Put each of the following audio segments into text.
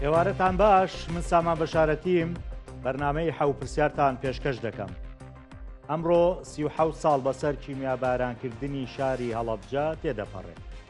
ئێوارەتان باش من ساما بەشارەتیم بەرنمەی حەوپرسیارتان پێشکەش دەکەم. ئەمڕۆ سی ساڵ بەسەر کیمیابارانکردنی شاری هەڵەبجە تێدەپەڕێت.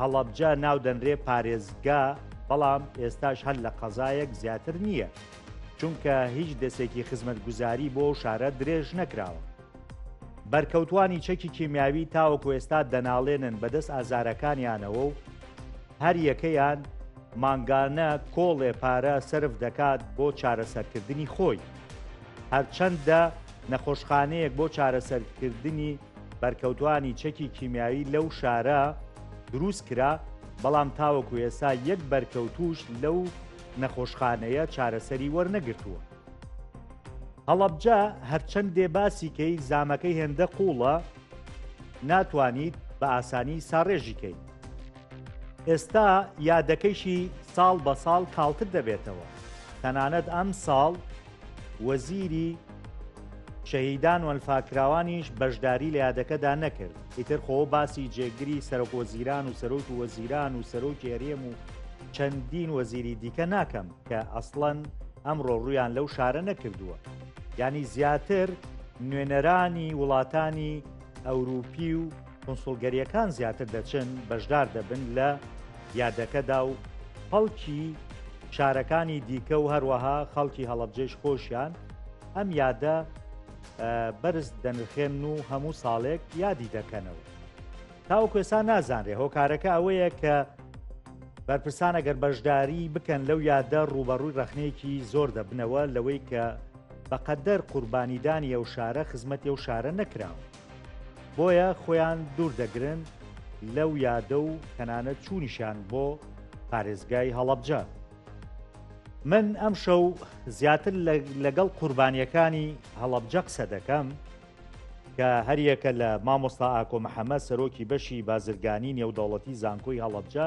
هەڵەبجە ناو دەنرێ پارێزگا بەڵام ئێستاش هەر لە قەزایەک زیاتر نییە چونکە هیچ دەستێکی خزمەتگوزاری بۆ و شارە درێژ نەکراوە بەرکەوتانی چەکی کیمیاوی تاوەکو ئێستا دەناڵێنن بەدەست ئازارەکانیانەوە و هەر یەکەیان مانگانە کۆڵێ پارە سرف دەکات بۆ چارەسەرکردنی خۆی هەرچەندە نەخۆشخانەیەک بۆ چارەسەرکردنی بەرکەوتانی چەکی کیمیاوی لەو شارە دروست کرا، بەڵام تاوەکو ئێسا یەک بەرکەوتووش لەو نەخۆشخانەیە چارەسەری وەرنەگرتووە. هەڵەبجە هەرچەندێ باسی کەی زامەکەی هێندە قووڵە ناتوانیت بە ئاسانی ساڕێژی کەیت. ئێستا یادەکەیشی ساڵ بە ساڵ کاڵتر دەبێتەوە، تەنانەت ئەم ساڵ وەزیری شەهیدان وەنفاکراوانیش بەشداری لە یادەکەدا نەکرد ئیتر خۆ باسی جێگری سەرۆک وەزیران و سەرۆک و وەزیران و سەرۆکی هەرێم و چەندین وەزیری دیکە ناکەم کە ئەسڵەن ئەمڕۆ ڕویان لەو شارە نەکردووە ینی زیاتر نوێنەرانی وڵاتانی ئەوروپی و کونسوڵگەریەکان زیاتر دەچن بەشدار دەبن لە یادەکەدا و خەڵکی شارەکانی دیکە و هەروەها خەڵکی هەڵبجێش خۆشیان ئەم یادە بەرز دەنرخێن و هەموو ساڵێک یادی دەکەنەوە تاو کوێسا نازانرێ هۆکارەکە ئەوەیە کە بەرپرسان ئەگەر بەشداری بکەن لەو یادە ڕوبەڕووی ڕخنەیەکی زۆر دەبنەوە لەوەی کە بەقەدەر قوربانیدانی ئەو شارە خزمەتی ئەو شارە نەکراوە بۆیە خۆیان دوور دەگرن لەو یادە و تەنانەت چوونیشان بۆ پارێزگای هەڵەبجە من ئەم شەو زیاتر لەگەڵ قوربانیەکانی هەڵەبجە قسە دەکەم کە هەریەکە لە مامۆستا ئاکۆ محەممەد سەرۆکی بەشی بازرگانی نێودەوڵەتی زانکۆی هەڵەبجە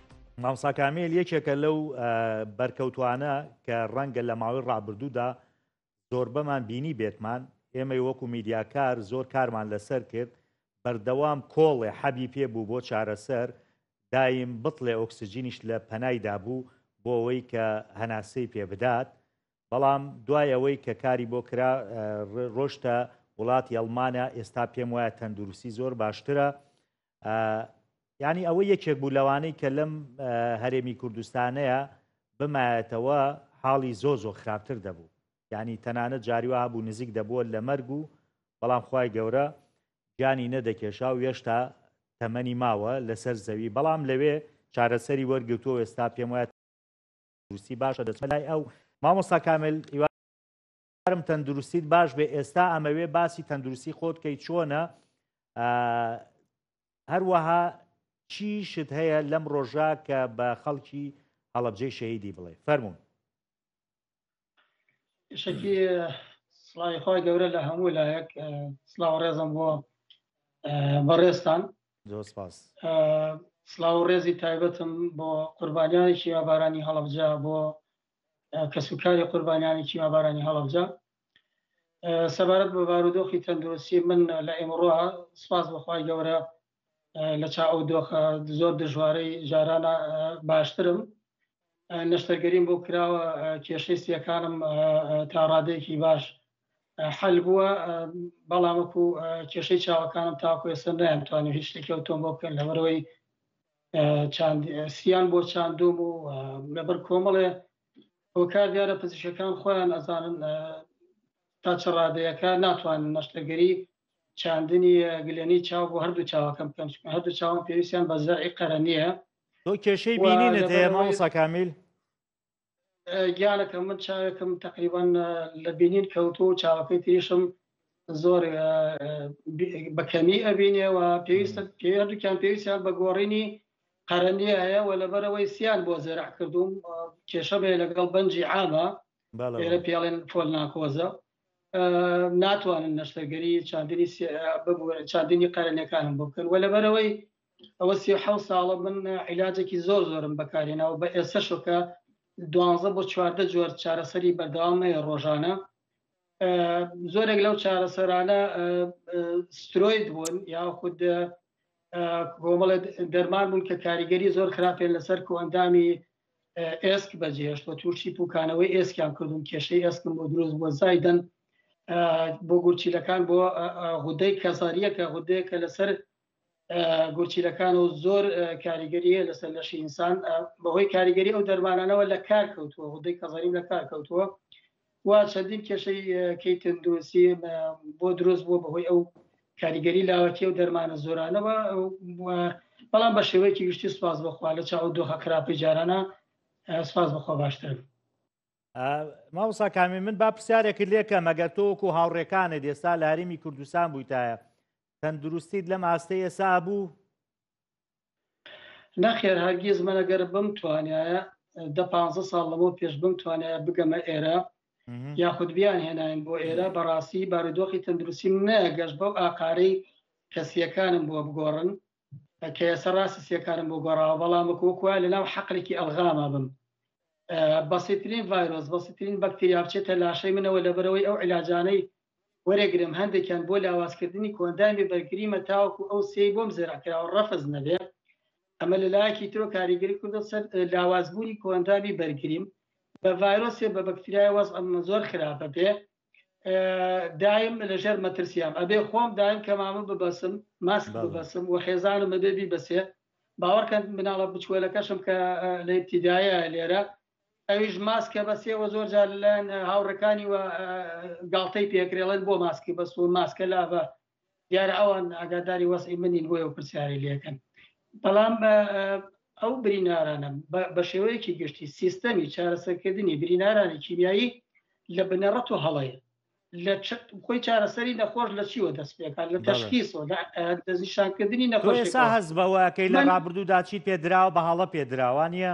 مامۆستا کامیل یەکێکە لەو بەرکەوتوانە کە ڕەنگە لە ماوەی ڕابردوودا زۆربەمان بینی بێتمان ئێمەی وەکو میدیاکار زۆر کارمان لەسەر کرد بەردەوام کۆڵێ حەبی پێ بوو بۆ چارەسەر دایم بتڵێ ئۆکسسیجینیش لە پەنایدا بوو بۆ ئەوەی کە هەناسەی پێ بدات بەڵام دوای ئەوەی کە کاری بۆ کرا ڕۆشتە وڵاتی ئەڵمانە ئێستا پێم وایە تەندروستی زۆر باشترە یعنی ئەوە یەکێک بوو لەوانەی کە لەم هەرێمی کوردستانەیە بمایەتەوە حاڵی زۆ زۆ خراپتر دەبوو یعنی تەنانە جاریوا بوو نزیک دەبووە لە مەرگ و بەڵام خی گەورە گیانی نەدەکێشا و هێشتا تەمەنی ماوە لەسەر زەوی بەڵام لەوێ چارەسەری وەرگتووە ئێستا پێم وایە روسی باشە دەچمە لای ئەو مامۆستا کامل هیوادارم تەندروستیت باش بێ ئێستا ئەمەوێ باسی تەندروستی خۆت کەی چۆنە هەروەها چی شت هەیە لەم ڕۆژە کە بە خەڵکی هەڵبجەی شەهیدی بڵێ فەرمونون شکی سڵاوی خۆی گەورە لە هەموو لایەک سلااو ڕێزم بۆ بەڕێستان سلااو ڕێزی تایبەتم بۆ قوربانیانی شیابارانی هەڵبجا بۆ کەسوکاری قوربانیانی کیمابارانی هەڵەبجە سەبارەت بە بارودۆخی تەندروستی من لە ئێمەڕۆ سپاس بەخوای گەورە لە چا ئەو دۆخە زۆر دژوارەی جارانە باشترم نەشتەرگەریم بۆ کراوە کێشەی سیەکانم تا ڕادێکی باش حل بووە بەڵامکو کێشەی چاوەکانم تاکوێسە نەیان توانانی هیچ شتێکی ئەوتۆم بۆ بکەن لەبەرەوەی سیان بۆ چاندۆم و لەبەر کۆمەڵێ هۆکار دیارە پزیشکەکان خۆیان ئەزانن تا چ ڕادەیەەکە ناتوانن نەشتەگەری چاندنی گلێنی چاو بۆ هەردوو چاوەکەم بکەم هەردوو چاوان پێویستیان بە زەرعی قەرە نییە تۆ کێشەی بینینت هەیە مامۆستا کامیل گیانەکەم من چاوێکم تقریبان لە بینین کەوتو و چاوەکەی تریشم زۆر بەکەمی ئەبینێەوە پێویستە پێردووکیان پێویستیان بە گۆڕینی قەرەنی هەیە و لەبەرەوەی سیان بۆ زێرا کردوم کێشە بێ لەگەڵ بەنجی عامە لێرە پێڵێن فۆل ناکۆزە ناتوانن نەشتەرگەری چاندنی چاندنی قەرەنەکانم بکەن و لەبەرەوەی ئەوە سی و حەوت ساڵە من عیلاجێکی زۆر زۆرم بەکارهێناوە بە ئێسەشۆ کە دوانزە بۆ چواردە جۆر چارەسەری بەردەوامەیە ڕۆژانە زۆرێک لەو چارەسەرانە سترۆید بوون یا خود گۆمەڵە دەرمان بوون کە کاریگەری زۆر خراپێن لەسەر کۆ ئەندامی ئێسک بەجێهێشت و تووشی پوکانەوەی ئێسکیان کردوون کێشەی ئێسکم بۆ دروست بۆ زایدن بۆ گورچیلەکان بۆ غودەی کەزاریەکە غودەیەکە لەسەر گورچیلەکان و زۆر کاریگەریە لەسەر لەشی ئینسان بەهۆی کاریگەری ئەو دەرمانانەوە لە کار کەوتووە غدەی کەزەریم لە کار کەوتووە و چەندین کێشەی کەی تەندروستی بۆ دروست بووە بەهۆی ئەو کاریگەری لاوەتی و دەرمانە زۆرانەوە بەڵام بە شێوەیەکی گشتی سپاس بخوا لە چاو دۆخە خراپی جارانە سپاس بخوا باشتر ماوسا کامی من با پرسیارێکی لێکە مەگەر تۆکو هاوڕێکانە دێستا لە هەرمی کوردستان بوویتایە تەندروستیت لەم ئاستەیە سا بوو نەخێر هەرگیز منەگەر بم توانایە دە پ ساڵ لەمە پێش بم توانایە بگەمە ئێرە یاخود بیان هێناین بۆ ئێرە بەڕاستی بارودۆخی تەندروستیم نەگەشت بەو ئاقارەی کەسیەکانم بۆ بگۆڕن کە ئێستا ڕاستی سیەکانم بۆ گۆڕاوە بەڵام وکوکوە لەناو حەقلێکی ئەلغاما بم بەسیترین ڤایرۆس بەسیترین بەکتریا بچێتە لاشەی منەوە لەبەرەوەی ئەو علاجانەی وەرەگرم هەندێکیان بۆ لاوازکردنی کۆئەندامی بەرگریمە تاوەکو ئەو سێی بۆم زەرەکراوە ڕەفز نەبێ ئەمە لە لایەکی ترۆ کاریگەری کردو سەر لاوازبوونی کۆئەندامی بەرگریم بە ڤایرۆسێ بە بەکتریای وەز ئەمە زۆر خراپە بێ دایم لەژێر مەترسیام ئەبێ خۆم دایم کەمامە ببەسم ماسک ببەسم و خێزانم بێبی بەسێ باوەڕکەن مناڵە بچوەلەکەشم کە لە ابتیدایە لێرە ئەویش ماسکە بەس ئێوە زۆر جار لەلایەن هاوڕەکانی و گاڵتەی پێکرێڵێن بۆ ماسکی بەس و ماسکە لاڤە دیارە ئەوان ئاگاداری وەسی منین بۆ ئەو پرسیاری لەکەن بەڵام ئەو برینارانە بە شێوەیەکی گشتی سیستەمی چارەسەرکردنی برینارانی کیمیایی لە بنەڕەت و هەڵەیە لە خۆی چارەسەری نەخۆش لە چیوە دەست پێکات لە تەشخیسەوە دەستنیشانکردنی نەخۆش هەز بەوەکەی لە ڕابردوودا چی پێدراوە بە هەڵە پێدراوانە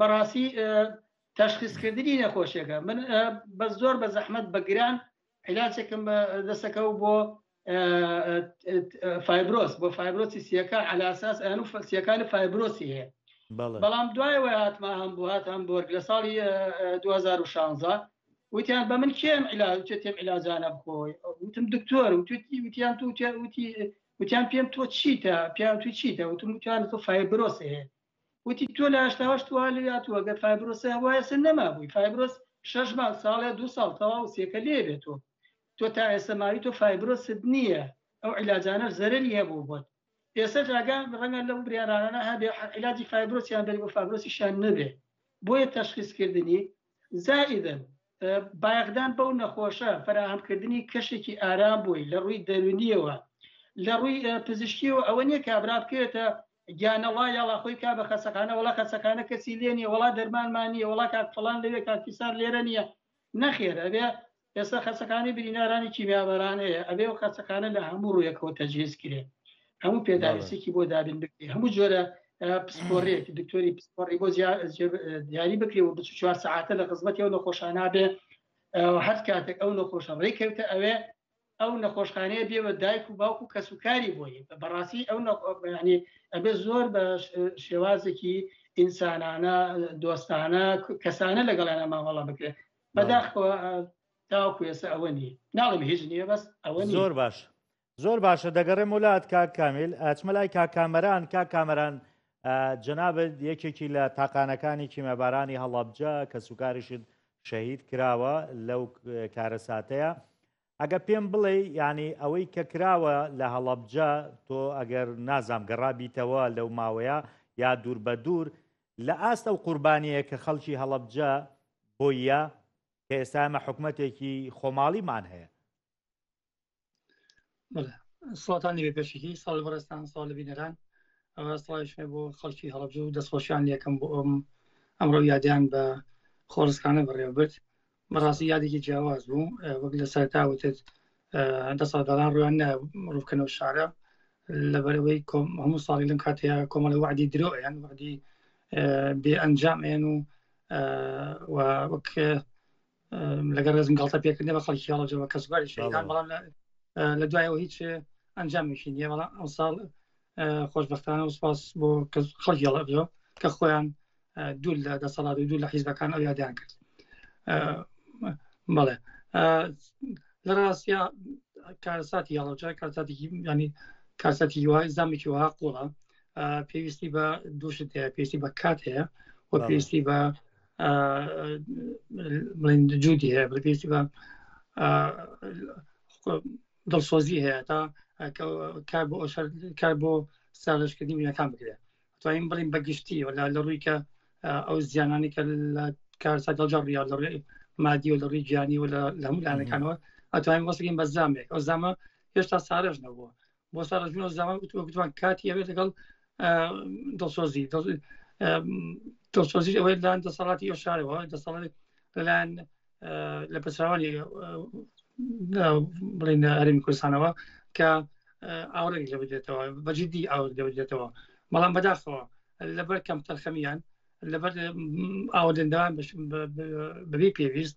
بەڕاستی تەشخیسکردنی نەخۆشیەکە من بە زۆر بە زەحمت بە گران علاجێکم دەسەکە و بۆ فایبرۆس بۆ فایبرۆسی سیەکە علاساس ئەن و سیەکانی فایبرۆسی هەیە بەڵام دوایەوە هاتما هەم بۆ هات هەم بۆرگ لە ساڵی 2016 وتیان بە من کێم علاج تێم علاجانە بخۆی وتم دکتۆر وتیان تو وتی وتیان پێم تۆ چیتە پیان تو چیتە وتم وتیان تۆ فایبرۆس هەیە وتی تۆ لە هەشتا هەشت وەها لێ هاتووە گەر فایبرۆسە هەبوایە ئێستا نەمابووی فایبرۆس شەش مانگ ساڵێ دوو ساڵ تەواو سێکە لێ بێت تۆ تۆ تا ئێستا ماوی تۆ فایبرۆست نییە ئەو عیلاجانەش زەرەری هەبوو بۆت ئێستا جاگە ڕەنگە لەو بریارانە هەبێ عیلاجی فایبرۆسیان بێت بۆ فایبرۆسیشیان نەبێ بۆیە تەشخیصکردنی زائدن بایەخدان بەو نەخۆشە فراهەمکردنی کەشێکی ئارام بووی لە ڕووی دەرونیەوە لە ڕووی پزیشکیەوە ئەوە نییە کابرا بکرێتە گیانە ڵا یاڵا خۆی کا بە خەسەخانە وەڵا خەسەخانە کەسی لێ نیە وەڵا دەرمانمان نیە وەڵا کاک فڵان لەوێ کاک فیسار لێرە نیە نەخێر ئەبێ ئێستا خەسەخانەی برینارانی کیمیابەران هەیە ئەبێ و خەسەخانە لە هەموو ڕوویەکەوە تەجهێز کرێ هەموو پێداویستێکی بۆ دابین بکرێ هەموو جۆرە پسپۆرێک دکتۆری پسپۆری بۆ دیاری بکرێ و بچ چوار ساعتە لە خزمەتی ئەو نەخۆشانە بێ هەر کاتێک ئەو نەخۆشە ڕێککەوتە ئەوێ ئەو نەخۆشخانەیە بێ بە دایک و باوک و کەس و کاری بۆی بەڕاستی ئەو نەخۆبیانی ئەبێ زۆر بە شێوازێکی ئینسانانە دۆستانە کەسانە لەگەڵیانە مامەڵە بکرێت بەداخەوە تاوکو ێسە ئەوە نیە ناڵم هیچ نیە بەس ئەوە زۆر باش زۆر باشە دەگەڕێم وڵات کاک کامیل ئەچمە لای کا کامەران کا کامەران جەنابەت یەکێکی لە تاقانەکانی کیمەبارانی هەڵابجە کە سوکاریشت شەهید کراوە لەو کارەساتەیە ئەگە پێم بڵێ ینی ئەوەی کە کراوە لە هەڵەبجە تۆ ئەگەر نازام گەڕابیتەوە لەو ماوەیە یا دوور بە دوور لە ئاست ئەو قوربانیە کە خەڵکی هەڵەبجە بۆیە کە ئێستا ئەمە حکوومەتێکی خۆماڵیمان هەیە سڵاتانی بێ پێشکی ساڵ بەڕێستان ساڵ لە بینەران ئەوەسڵایشێ بۆ خەڵکی هەڵبجو و دەستخۆشیان یەکەم بۆ ئەم ئەمڕۆ یادیان بە خۆڕسکانە بەڕێوەبرد بەڕاستی یادێکی جیاواز بوو وەک لە سەرتا وتت دە ساڵداران ڕوان ڕووکەنەوە شارە لەبەرەوەی هەموو ساڵی لەم کاتەیە کۆمەڵە وعدی درۆیان وعدی بێ ئەنجام ئێن و وەک لەگەر ڕێزم گڵتە پێکردنی بە خەڵکی هەڵەجەوە کە زگاری شەیدان بەڵام لە دوایەوە هیچ ئەنجامێکی نیە بەڵام ئەم ساڵ خۆشببختانە و سپاس بۆ خەڵکی هەڵەجەوە کە خۆیان دوو لە دەسەڵات و دوو لە حیزبەکان ئەو یادیان کرد بەڵێ لە ڕاستە کارساتی هەڵەجە کارساتێکی ینی کارسەتی وای زامێکی وها قوڵە پێویستی بە دووشت هەیە پێویستی بە کات هەیە و پێویستی بە بڵین جودی هەیە بەگەیشتی بە دڵسۆزی هەیە تا کار بۆ ئەوشار کار بۆ سازشکردنی مینەکان بکرێت توانین بڵین بەگشتی ولا لە ڕووی کە ئەو زیانانی کە لە کارسا دڵجار ڕیا لە ڕێ مادی و لە ڕووی گیانی و لە هەموو لانەکانەوە ئەتوانین وەسەکەین بە زامێک ئەو زامە هێشتا سارش نەبووە بۆ سارە جون ئۆزامان وتوان کاتی ئەوێت لەگەڵ دڵسۆزی دڵسۆزی ئەوەی لەلاەن دەسەڵاتی ئەو شارەوە دەسەڵات لەلاەن لە پچراوانی بڵین هەرمی کوردستانەوە کە ئاورێک لە بدێتەوە بەجددی ئاور لە بدێتەوە بەڵام بەداخەوە لەبەر کەم تەرخەمیان لەبەر ئاوەدەندەوان بەبی پێویست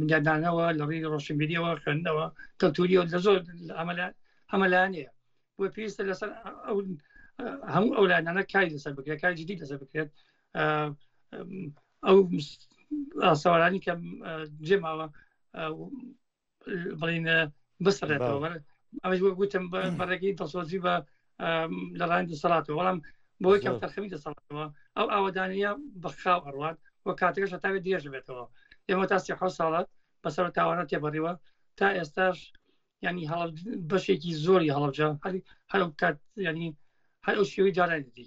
بنیادنانەوە لە ڕووی ڕۆشنبیریەوە خوێندنەوە کەلتوریەوە لە زۆر ئەمەلا ئەمەلانەیە بۆ پێویستە لەسەر هەموو ئەو لایەنانە کاری لەسەر بکرێت کاری جدی لەسەر بکرێت ئەو ئاسەوارانی کە جێماوە بڵین بسڕێتەوە ئەمەش بۆ گوتم بەڕێکی دەسۆزی بە لە ڕان دەسەڵاتەوە بەڵام بۆی کەم تەرخەمی دەسەڵاتەوە ئەو ئاوادانە بەخاو ئەڕوات و کاتەکەش تاوێت درێژ بێتەوە ئێمە تا سیح ساڵات بەسەر تاوانە تێبڕیوە تا ئێستاش ینی هەڵ بەشێکی زۆری هەڵبجە هەر هەر کات ینی هەر ئەو شێوی جارانێتی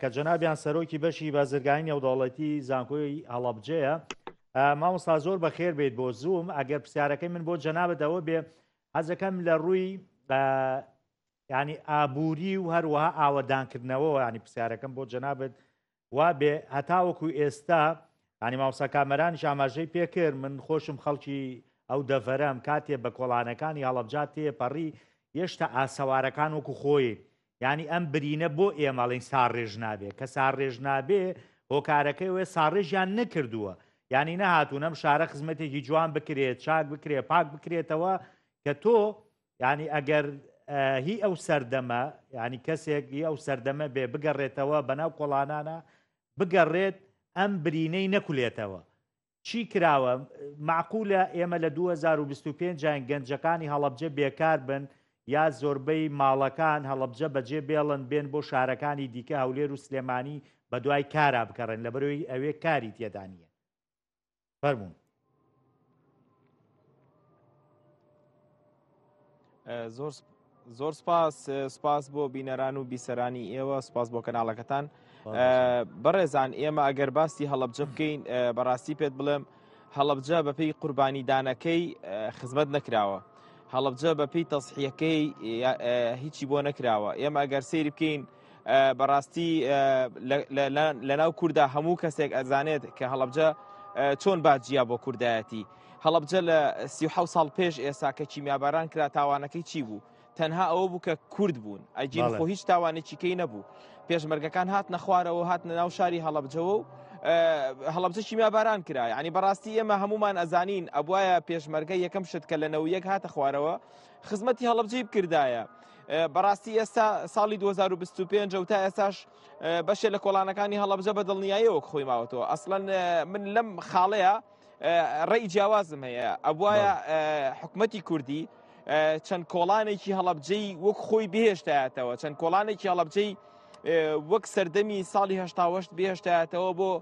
کە جەنابیان سەرۆکی بەشی بازرگانی نێودەوڵەتی زانکۆی هەڵەبجەیە مامۆستا زۆر بەخێر بێت بۆ زووم ئەگەر پرسیارەکەی من بۆ جەنابەتەوە بێ حەزەکەم لە ڕووی ینی ئابووری و هەروەها ئاوەدانکردنەوە ینی پرسیارەکەم بۆ جەنابەت وا بێ هەتاوەکو ئێستا ینی ماوسا کامەران شاماژەی پێکرد من خۆشم خەڵکی ئەو دەڤەرەم کاتێ بە کۆڵانەکانی هەڵبجات تێپەڕی یشتا ئاسەوارەکان وەکو خۆی یانی ئەم برینە بۆ ئێمەڵین ساڕێژ نابێ کە ساڕێژ نابێ هۆکارەکەی وێ ساڕێژیان نەکردووە ینی نەهاتوون ئەم شارە خزمەتێکی جوان بکرێت چاک بکرێ پاک بکرێتەوە کە تۆ ینی ئەگەر هی ئەو سەردەمە ینی کەسێک هی ئەو سەردەمە بێ بگەڕێتەوە بەناو کۆڵانانە بگەڕێت ئەم برینەی نەکولێتەوە چی کراوە؟ مەعقولە ئێمە لە دوو هەزار و بیست و پێنج یاین گەنجەکانی هەڵەبجە بێکار بن یا زۆربەی ماڵەکان هەڵەبجە بەجێ بێڵن بێن بۆ شارەکانی دیکە هەولێر و سلێمانی بە دوای کارا بگەڕێن لەبەرەوەی ئەوێ کاری تێدا نییە فەرموون. زۆر زۆر سپاس سپاس بۆ بینەران و بیسەرانی ئێوە سپاس بۆ کەناڵەکەتان بەڕێزان ئێمە ئەگەر باسی هەڵبجە بکەین بەڕاستی پێت بڵێم هەڵبجە بەپی قوربانیدانەکەی خزمەت نەکراوە هەڵبجە بەپی تەسحیەکەی هیچی بۆ نەکراوە ئێمە ئەگەر سری بکەین بەڕاستی لە ناو کووردا هەموو کەسێک ئەزانێت کە هەڵبجە چۆن باجیا بۆ کوردایەتی هەڵبجە لە سی ساڵ پێش ئێستا کە کیمیاباران کرا تاوانەکەی چی بوو تەنها ئەوە بوو کە کورد بوون ئەجین خۆ هیچ تاوانێکیکەی نەبوو پێشمەرگەکان هات نەخوارەوە هات ناو شاری هەڵبجەوە و هەڵبجە کیمیاباران کرا ینی بەڕاستی ئێمە هەمومان ئەزانین ئەبواە پێشمەرگە یەکەم شت کە لە نەوە یەک هاتە خوارەوە خزمەتی هەڵەبجەی بکردایە. بەڕاستی ئێستا ساڵی 2025 و تا ئێستاش بەشێ لە کۆڵانەکانی هەڵەبجە بە دڵنیایەوەک خۆی ماوەتەوە ئەسڵەن من لەم خاڵەیە ڕێی جیاوازم هەیە ئەبواە حکومەتی کوردی چەند کۆڵانێکی هەڵەبجەی وەک خۆی بهێشتایەتەوە چەند کۆڵانێکی هەڵەبجەی وەک سەردەمی ساڵی هەشتاوەشت بێشتایەتەوە بۆ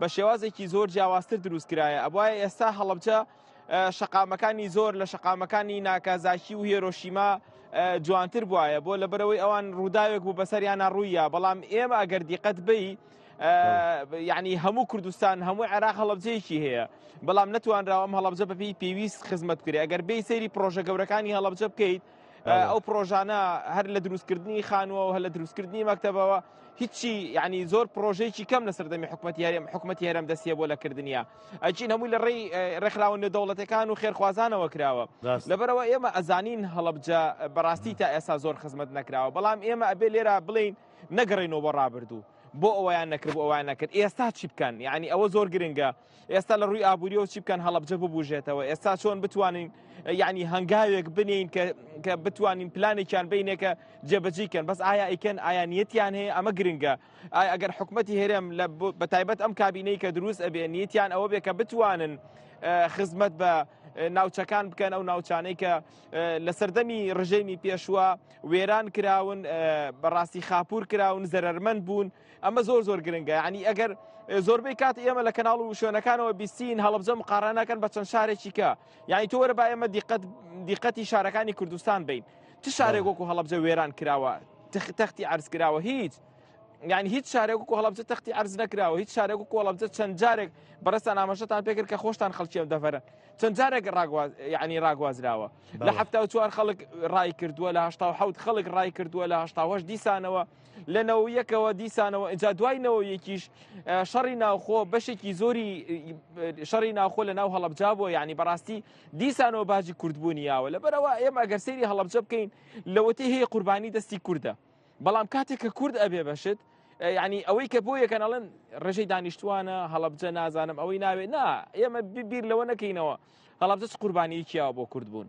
بە شێوازێکی زۆر جیاوازتر دروست کرایە ئەبواە ئێستا هەڵبجە شقامەکانی زۆر لە شقامەکانی ناکازاکی و هێرۆشیما جوانتر بواە بۆ لە بەرەوەی ئەوان ڕووداوێک بوو بەسەریانە ڕوویە بەڵام ئێمە ئەگەر دیقەت بی یعنی هەموو کوردستان هەموو عێراق هەڵبجەیەکی هەیە بەڵام نتوانراوەم هەڵبجە بەپی پێویست خزمەت کرێ ئەگەر بی سەیری پرۆژە گەورەکانی هەڵبجە بکەیت ئەو پرۆژانە هەر لە دروستکردنی خانووەوە هە لە دروستکردنی مەکتتەبەوە هیچی ینی زۆر پرۆژێکی کەم لە سەردەمی حکوومەت یارم حکوومەت هێرم دەستیە بۆ لەکردنیە ئەچین هەمووی لە ڕێی ڕێکخراوە نێ دەوڵەتەکان و خێرخوازانەوە کراوە لەبەرەوە ئێمە ئەزانین هەڵبجە بەڕاستی تا ئێستا زۆر خزمەت نەکراوە بەڵام ئێمە ئەبێ لێرا بڵین نەگەڕێنەوە بۆ ڕابردوو بۆ ئەویان نەکرد ئەویان نەکرد ئێستا چی بکەن یعنی ئەوە زۆر گرنگە ئێستا لە ڕووی ئابووریەوە چی بکەن هەڵبجە ببوژێتەوە ئێستا چۆن بتوانین یعنی هەنگاوێک بنین کە بتوانین پلانێکیان بینێکە جێبەجیکەن بەس ئایا ئیکەن ئایانیەتیان هەیە ئەمە گرنگە ئایا ئەگەر حکوومەتتی هێرم لە بە تایبەت ئەم کابینەی کە دروست ئەبێ نیەتیان ئەوە بێ کە بتوانن خزمەت بە ناوچەکان بکەن ئەو ناوچانەی کە لە سەردەمی ڕژێمی پێشوە وێران کراون بەڕاستی خاپور کراون زەرمەند بوون ئەمە زۆر زۆر گرنگە ینی ئەگەر زۆربەی کات ئێمە لە کەناڵ و شوێنەکانەوە بیستین هەڵبجە مقارانەکەن بە چەند شارێکیکە یعنی تۆ وەرە با ئێمە دیقەت دیقەتی شارەکانی کوردستان بین چ شارێک وەکو هەڵبجە وێران کراوە تەختی عرز کراوە هیچ یعنی هیچ شارێک و هەڵبجە تەختی عرز نکراوە هیچ شارێک و هەڵبجە چەند جارێک بەڕستان ئاماژەتان پێکرد کە خۆشتان خەڵکیێن دەفەرە چەند جارێک ینی ڕاگوازراوە لە هەفتا و چوار خەڵک ڕای کردووە لە هشتا حوت خەڵک ڕای کردووە لە هشتاهش دیسانەوە لە نەوەیەکەوە دیسانەوە ئەجا دوای نەوەیەکیش شەڕی ناوخۆ بەشێکی زۆری شەڕی ناوخۆ لە ناو هەڵبجا بۆ ینی بەڕاستی دیسانەوە باجی کوردبوونی یاوە لە بەرەوە ئێمە ئەگەر سری هەڵبجە بکەین لەوەتی هەیە قوربانی دەستی کووردە بەڵام کاتێک کە کورد ئەبێ بەشت ینی ئەوەی کە بۆ یەکەنەڵێن ڕێژەی دانیشتوانە هەڵبجە نازانم ئەوەی ناوێت نا ئێمە بیر لەوە نەکەینەوە هەڵبجە قوربانیەکییاوە بۆ کورد بوون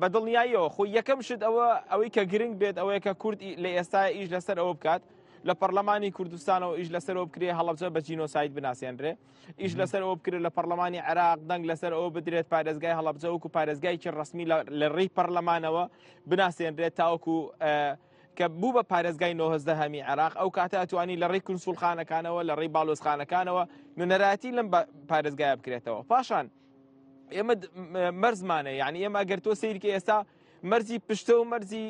بە دڵنیاییەوە خۆی یەکەم شت ئەوە ئەوەی کە گرنگ بێت ئەوەیە کە کورد لە ئێستا ئیش لەسەر ئەوە بکات لە پەرلەمانی کوردستانەوە ئیش لەسەرەوە بکرێ هەڵبجە بە جینۆسایت بناسیێنرێ ئیش لەسەرەوە بکرێت لە پەرلەمانی عراق دەنگ لەسەر ئەوە بدرێت پارێزگای هەڵبجە وکو پارێزگایکی ڕسمی لە ڕێی پەرلەمانەوە بناسیێنرێت تاوەکو کە بوو بە پارێزگای نۆهزدەهەمی عێراق ئەو کاتە ئەتوانی لە ڕێی کنسولخانەکانەوە لە ڕێی باڵۆزخانەکانەوە نوێنەرایەتی لەم پارێزگای بکرێتەوە پاشان ئێمە مەرزمانە یعنی ئێمە ئەگەر تۆ سیرکە ئێستا مەرزی پشتە و مەرزی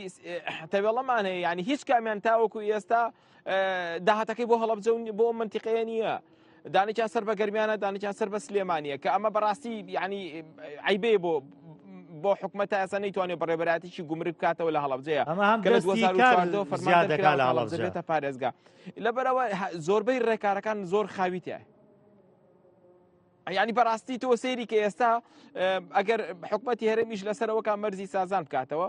تەوێڵەمان هەیە ینی هیچ کامیان تاوەکو ئێستا داهاتەکەی بۆ هەڵبجە بۆ منتیقەیە نییە دانێکیان سەر بە گەرمیانە دانێکیان سەر بە سلێمانە کە ئەمە بەڕاستی ینی عیبێ بۆ بۆ حکومەت ئەسە نەیتوانێ بەڕێبەراتیی گومرگ بکاتەوە لە هەڵبجەیە ئەمە هەم فەرمانێتە پارێزگا لەبەرەوە زۆربەی ڕێکارەکان زۆر خاویتە ینی بەڕاستی تۆ سێری کە ئێستا ئەگەر حکومەتی هەرێمیش لەسەرەوەکان مەرزی سازان بکاتەوە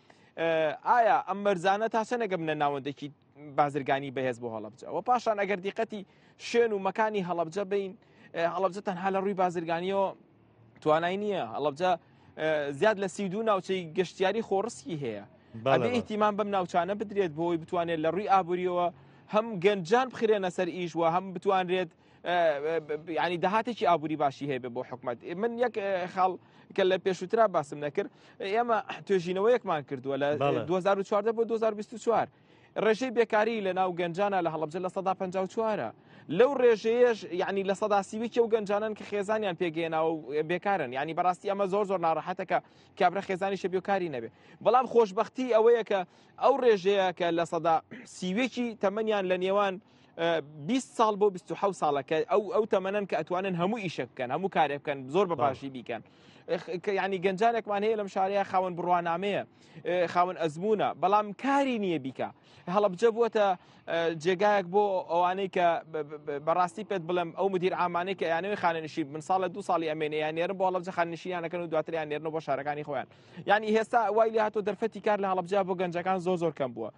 ئایا ئەم مەرزانە تا چەنەگە منە ناوەندێکی بازرگانی بەهێز بۆ هەڵبجە و پاشان ئەگەر دیقەتی شوێن و مەکانی هەڵبجە بین هەڵبجە تەنها لە ڕووی بازرگانیەوە توانای نییە هەڵبجە زیاد لە سی دوو ناوچەی گەشتیاری خۆڕسکی هەیە ئەتیمان بەم ناوچانە بدرێت بۆی بتوانێت لە ڕووی ئابووریەوە هەم گەنجان بخرێنە سەر ئیش و هەم بتوانرێت ینی داهاتێکی ئابووری باشی هەیە بۆ حکومت من یەک خاڵ کە لە پێشوترا باسم نەکرد ئێمە توێژینەوەیەکمان کردووە لە 2014 بۆ 2024 ڕێژەی بێکاری لە ناو گەنجانە لە هەڵبجە لە 1954 لەو ڕێژەیەش یعنی لە سەدا سیویکی و گەنجانن کە خێزانیان پێگەێنا و بێکارن ینی بەڕاستی ئەمە زۆر زۆر ناڕەحەتەکە کابرا خێزانی شەبیۆکاری نەبێ بەڵام خۆشببختی ئەوەیە کە ئەو ڕێژەیە کە لە سەدا سیوێکی تەمەنیان لە نێوان بیست ساڵ بۆ بیست و حەوت ساڵە کە ئەو ئەو تەمەنەن کە ئەتوانن هەموو ئیشە بکەن هەموو کارێ بکەن زۆر بە باشی بیکەن ئخ، کە یعنی گەنجانێکمان هەیە لەم شارەیە خاوەن بڕوانامەیە ئێ، خاوەن ئەزمونە بەڵام کاری نییە بیکە هەڵبجە بووە جێگایەک بۆ ئەوانەی کە ب- ب- ب- بەڕاستی پێت بڵم ئەو مدیر ئامانەی کە یانەوەی خانەنشی من ساڵە دو ساڵی ئەمێنێ یان نێرن بۆ هەڵبجە خاننشیانەکەن و دواتریان نێرن بۆ شارەکانی خۆیان یعنی هێستا وای لێ هاتۆ دەرفەتی کار لە هەڵبجە بۆ گەنجەکان زۆر زۆر کەم بووە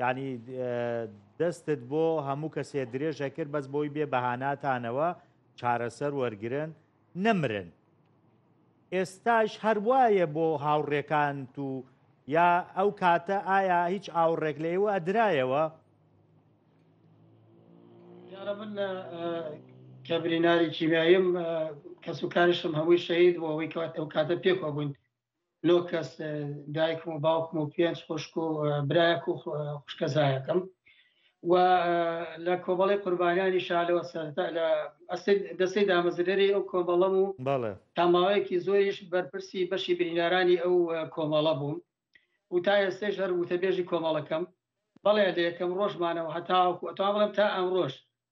یانی دەستت بۆ هەموو کەسێ درێژە کرد بەس بۆی بێ بەهاناتانەوە چارەسەر وەرگن نەمرن ئێستاش هەروایە بۆ هاوڕێکان و یا ئەو کاتە ئایا هیچ ئاوڕێک لە ئێوە ئەدرایەوە یارە من کە بریناری کیمیاییم کەس و کاریشم هەمووی شەید بۆ ئەوەی کات ئەو کاتە پێکەوە بووین نۆ کەس دایکم و باوکم و پێنج خوشک و برایەک و خوشکەزایەکەم و لە کۆمەڵی قوربانیانی شالەوە سەرتا لە دەستی دامەزرێری ئەو کۆمەڵەم و تاماوەیەکی زۆریش بەرپرسی بەشی بریندارانی ئەو کۆمەڵە بووم و تا ئێستێش هەر وتەبێژی کۆمەڵەکەم بەڵێ لە یەکەم ڕۆژمانەوە هەتاوەکو ئەتوان بڵم تا ئەم ڕۆژ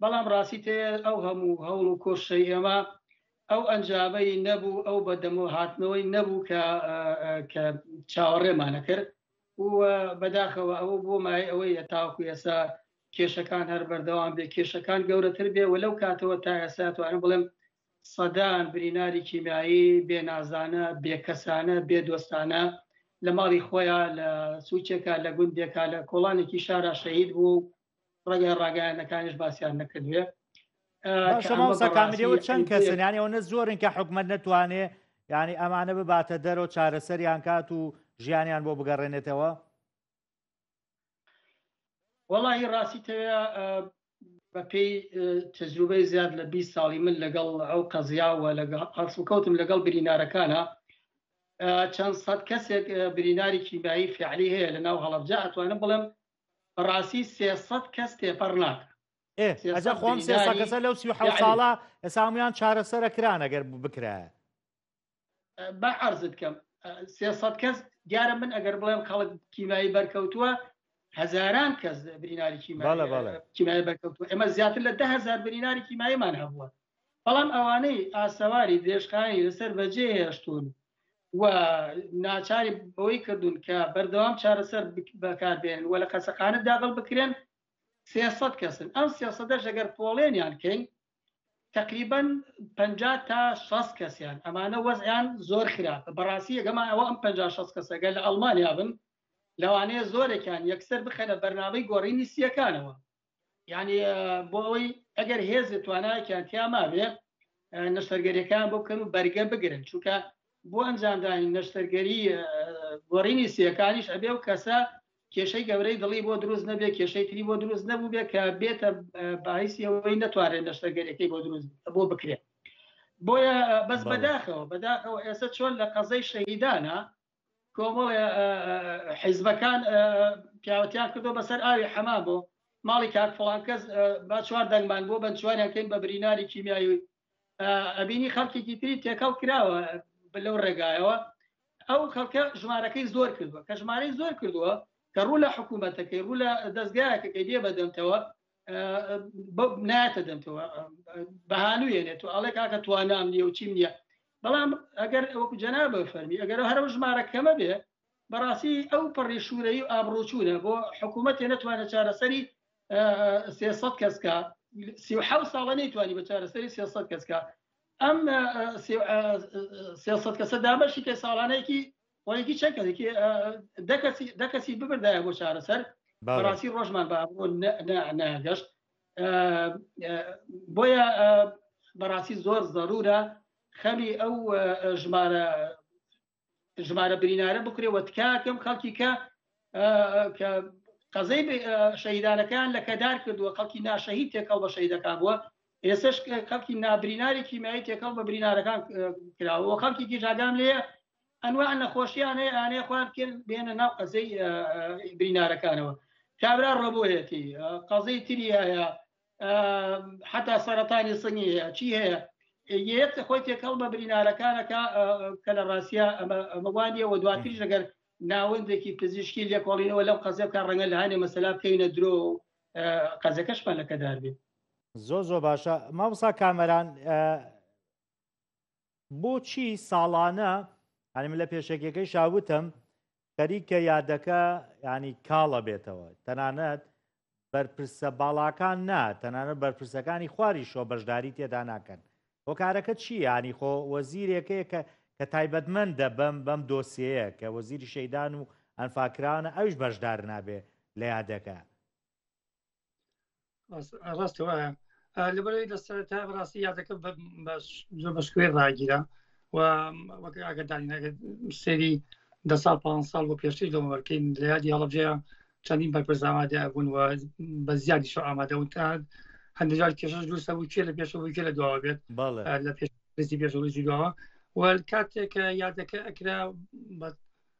بەڵام ڕاستی تێ ئەو هەموو هەوڵ و کۆششەی ئێمە ئەو ئەنجامەی نەبوو ئەو بەدەمەوە هاتنەوەی نەبوو کە کە چاوەڕێمانە کرد و بەداخەوە ئەوە بۆ مای ئەوەی هەتاوکو ئێسا کێشەکان هەر بەردەوام بێ کێشەکان گەورەتر بێ و لەو کاتەوە تا ئێستا توانم بڵێم سەدان بریناری کیمیایی بێنازانە بێکەسانە بێدۆستانە لە ماڵی خۆیان لە سوچێکا لە گوندێکا لە کۆڵانێکی شارا شەهید بوو ڕێگای ڕاگەیانەکانیش باسییان نەکردوێ شەماوسەکانەوە چەند کەسنیانی ئەوە زۆرن کە حکومت نەتوانێ ینی ئەمانە بباتە دەرەوە چارەسەریان کات و ژیانیان بۆ بگەڕێنێتەوە وەڵی ڕاستی تەوێ بەپێی تجروبەی زیاد لە 20 ساڵی من لەگەڵ ئەو قەزیاوە لەگە ئەسڵکەوتم لەگەڵ برینارەکانە چەند سەد کەسێک بریناری کیمایی فعلی هەیە لە ناو هەڵبجە ئەتوانم بڵێم بەڕاستی سێ سەد کەس تێپەڕ ناکە ئێ سێ ئەجا سەد خۆم سێ سا برینداری کەسە لەو سی و حەوت یعنی. ساڵە ئێستا هەمویان چارەسەرە کران ئەگەر بکرایە با عرضت کەم سێ سەد کەس دیارە من ئەگەر بڵێم خەڵک کیمایی بەرکەوتووە هەزاران کەس بریناری بەڵێ، بەڵێ. کیمایی کیمای بەرکەوتووە ئێمە زیاتر لە ده هزار بریناری کیماییمان هەبووە بەڵام ئەوانەی ئاسەواری درێژخایەنی لەسەر بەجێ هێشتون و ناچاری بەوەی کردوون کە بەردەوام چارەسەر بەکاربێن و لە قەسەقانە داغڵ بکرێن سێسەد کەسن ئەم سێسەدە ژەگەر پۆڵێنیان کەین تقریبان پ تا 6 کەسیان ئەمانە وەزیان زۆر خراپە بەڕاستی یەگەمان ئەوە ئەم پ 6 کەسەگە لە ئەڵمانیا بن لەوانەیە زۆرێکیان یەکسەر بخەنە بەرنامەی گۆڕینی سیەکانەوە یعنی بۆ ئەوەی ئەگەر هێز توانایکیان تیا ماوێ نەشتەرگەریەکان بۆ بکەن و بەرگە بگرن چونکە بۆ ئەنجامدانی نەشتەرگەری گۆڕینی سیەکانیش ئەبێ و کەسە کێشەی گەورەی دڵی بۆ دروست نەبێ کێشەی تری بۆ دروست نەبوو بێ کە بێتە باعیسی ئەوەی نەتوانێت نەشتەرگەریەکەی بۆ دروست بۆ بکرێت بۆیە بەس بەداخەوە بەداخەوە ئێستا چۆن لە قەزەی شەهیدانە کۆمەڵێ حیزبەکان پیاوەتیان کردو بەسەر ئاوی حەما بۆ ماڵی کاک فڵان کەس با چوار دەنگمان بۆ بەنچوانیان کەین بە بریناری کیمیایی ئەبینی خەڵکێکی تری تێکەڵ کراوە لەو ڕێگایەوە ئەو خەڵکە ژمارەکەی زۆر کردووە کە ژمارەی زۆر کردووە کە ڕوو لە حکوومەتەکەی ڕوو لە دەستگایەکەکەی دێ بەدەمتەوە ناتە دەمتەوە بەهانوێنێت و ئەڵێ کاکە توانام نیە و چیم نییە بەڵام ئەگەر ئەوکو جەنا بە فەرمی ئەگەر هەر ژمارە کەمە بێ بەڕاستی ئەو پەڕی شوورەی و ئابروچوونە بۆ حکوومەتێ نەتوانە چارەسەری سێسە کەسکە سی ساڵە نەیتوانی بە چارەسەری سێسە کەسکە ئەم سێسە کەسە دابەشی کە ساڵانێکی پۆینتی چەند کەسێکی دە کەسی دە کەسی ببردایە بۆ چارەسەر بەڵێ. بەڕاستی ڕۆژمان بە ئەمڕۆ نە- نە- نەگەشت ئە، ئە، بۆیە ئە، بەڕاستی زۆر زەرورە خەمی ئەو ئە، ئە، ژمارە ژمارە برینارە بکرێ و تکاکەم خەڵکی کە ئە، ئە، کە قەزەی بێ- ئە، شەهیدانەکان لە کەدار کردووە خەڵکی ناشەهید تێکەڵ بە شەهیدەکان بووە ئێسش خەڵکی نابریناری کیمیایی تێکەڵ بە برینارەکان ئە، کراوە خەڵکیکی ژاگام لێە ئەنواع نەخۆشیان هەیە ئانەیە خۆیان بکەن بێنە ناو قەزەی برینارەکانەوە کابرا ڕۆبۆیەتی قەزەی تری هەیە حتا سەرەتانی سنگی هەیە چی هەیە یەت خۆی تێکەڵ بە برینارەکانەکە کە لە ڕاستە ئەمەوانە وە دواتریش لەگەر ناوەندێکی پزیشکی لێکۆڵینەوە لەم قەزە بکە ڕەنگە لە هاانێ مەسەلا بکەینە درۆ قەزەکەشمان لەکەدار بێت زۆ زۆ باشە مامسا کامەران بۆچی ساڵانە هەنی من لە پێشەکیەکەی شاوتم خەریکە یادەکە ینی کاڵە بێتەوە تەنانەت بەرپرسە باڵاکان نا تەنانەت بەرپرسەکانی خواری شۆ بەشداری تێدا ناکەن هۆکارەکە چی ینی خۆ وەزیرێکەیە کە کە تایبەتمەند دەبم بەم دۆسیەیە کە وەزیری شەیدان و ئەنفاکراونە ئەوش بەشدار نابێ لە یادەکە ڕاستە وایە لەبەرەوەی لە سەرتا ڕاستی یادەکە زۆر بەشکوێ ڕاگیرا و وەک ئاگدانینەکە سری دە سال پ سال بۆ پێشتری لەوەکەین لە یادی هەڵبجێ چەندین بەرپرزامادە بوون و بە زیادی شو ئامادە وتان هەندێکجار کێشش دووسە بوو کێ لە پێشەوەی کێ لە دواوە بێت لە پێشی پێشەوەی دواوە و کاتێک یادەکە ئەکرا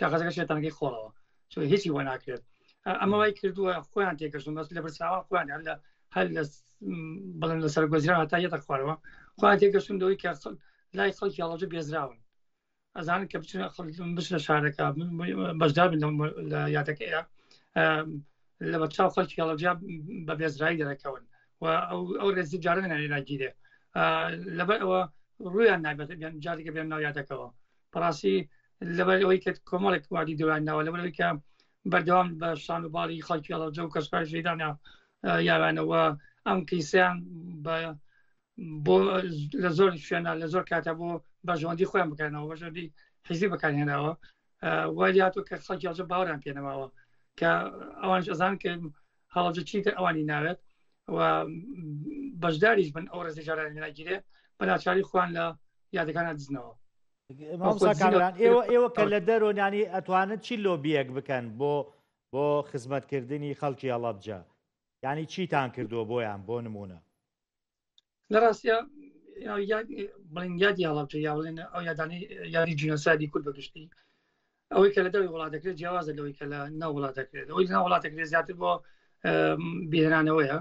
کاغەزەکە شێتانەکەی خۆڵەوە چۆ هیچی وە ناکرێت ئەمە وای کردووە خۆیان تێکردون بەس لە برساوان خۆیان هەر لە هەر لە بڵێن لە سەرگۆزرا هەتا یەتە خوارەوە خۆیان تێکەشتون دەوەی کە لای خەڵکی هەڵەجە بێزراون ئەزانن کە بچن بچ لە شارەکە بەشدار بن لە یادەکەیە لە بەچاو خەڵکی هەڵەجیا بە بێزرایی دەرەکەون و ئەو ڕێزی جارە نەێناگیرێ لەبەر ئەوە ڕویان نابێت جارێکە بێن ناو یادەکەەوە بەڕاستی لەبەر ئەوەی کە کۆمەڵێک وادی دوران ناوە لەبەرەوەی کە بەردەوام بە شان و باڵی خەڵکی هەڵەوجە و کەسکار ژێدانە یاوانەوە ئەم کیسیان بە بۆ لە زۆر شوێنە لە زۆر کاتە بۆ بەژەوەندی خۆیان بکەنەوە بەژەندی حیزی بەکارهێناوە وای هاتوو کە خەڵکی هەڵجە باوەران پێنەماوە کە ئەوان ئەزان کە هەڵەبجە چیتر ئەوانی ناوێت و بەشداریش بن ئەو ڕێزی جارانی ناگیرێ بەناچاری خوان لە یادەکانە دزنەوە ئێوە کە لە دەرۆنانی ئەتوانن چی لۆبیەک بکەن بۆ بۆ خزمەتکردنی خەڵکی هەڵەبجە ینی چیتان کردووە بۆیان بۆ نمونە لە ڕاستە بڵین یادی هەڵاوتە یا بڵێن ئەو یادانی یادی جینۆسایدی کورد بەگشتی ئەوەی کە لە دەوی وڵات دەکرێت جیاوازە لەوەی کە لە ناو وڵات دەکرێت ئەوەی ناو وڵات دەکرێت زیاتر بۆ بهێنانەوەیە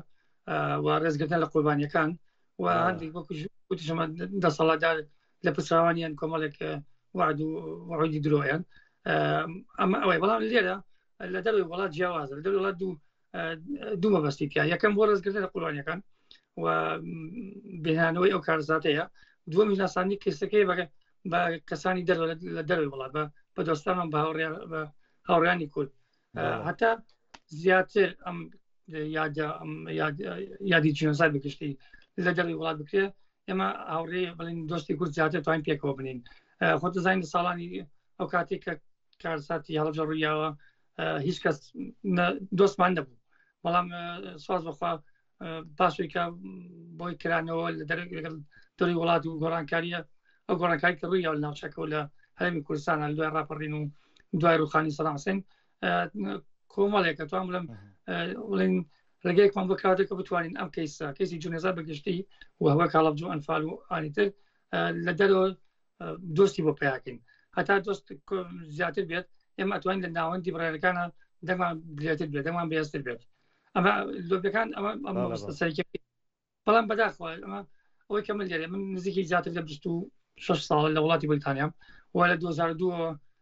و ڕێزگرتن لە قوربانیەکان و هەندێک وەکوشمە دەسەڵاتدار لە پسراوانیان کۆمەڵێک وعد و وعودی درۆیان ئەمە ئەوەی بەڵام لێرە لە دەروی وڵات جیاوازە لە دەروڵات دوو دوو مەبەستی تیا یەکەم بۆ ڕێزگرتن لە قوربانیەکان و بهێنانەوەی ئەو کارزاتەیە دووەم ناسانی کەسەکەی بەگە بە کەسانی دەر لە دەروی وڵات بە بە دۆستانم بە هاوڕیان بە هاوڕانی کورد هەتا زیاتر ئەم یادی جنسات بگشتی لە دەروی وڵات بکرێ ئێمە هاوڕێ بڵین دۆستی کورد زیاتر توان پێکەوە بنین خۆتەزانین ساڵانی ئەو کاتێک کە کارساتی هەڵجە ڕوویاوە هیچ کەس دۆستمان نەبوو بەڵام ساز بخوا پاشێکە بۆی کرانەوە لە دەرەک لەگەڵ دەری وڵات و گۆڕانکاریە ئەو گۆڕانکاری کە ڕووی یاول ناوچەکە لە هەرمی کوردستان لە دوای ڕاپەڕین و دوای ڕوخانی سەراسین کۆمەڵێکە توان بڵم بڵین ڕێگەیەکمان بۆ کاتێکە بتوانین ئەم کەیسە کەسی جونێزار بەگشتی و هەوە کاڵبجو ئەنفال و ئالیتر لە دەرەوە دۆستی بۆ پیاکەین هەتا دۆست زیاتر بێت ئێمە ئەتوانین لە ناوەندی بڕێنەکانە دەمان درێتر بێت دەمان بێستر بێت ئەمە لۆبەکان ئەمە بەڵام بەداخوا ئەمە ئەوەی کە من لێرێ من نزیکی زیاتر لە 26 ساڵ لە وڵاتی بریتانیام و لە 2002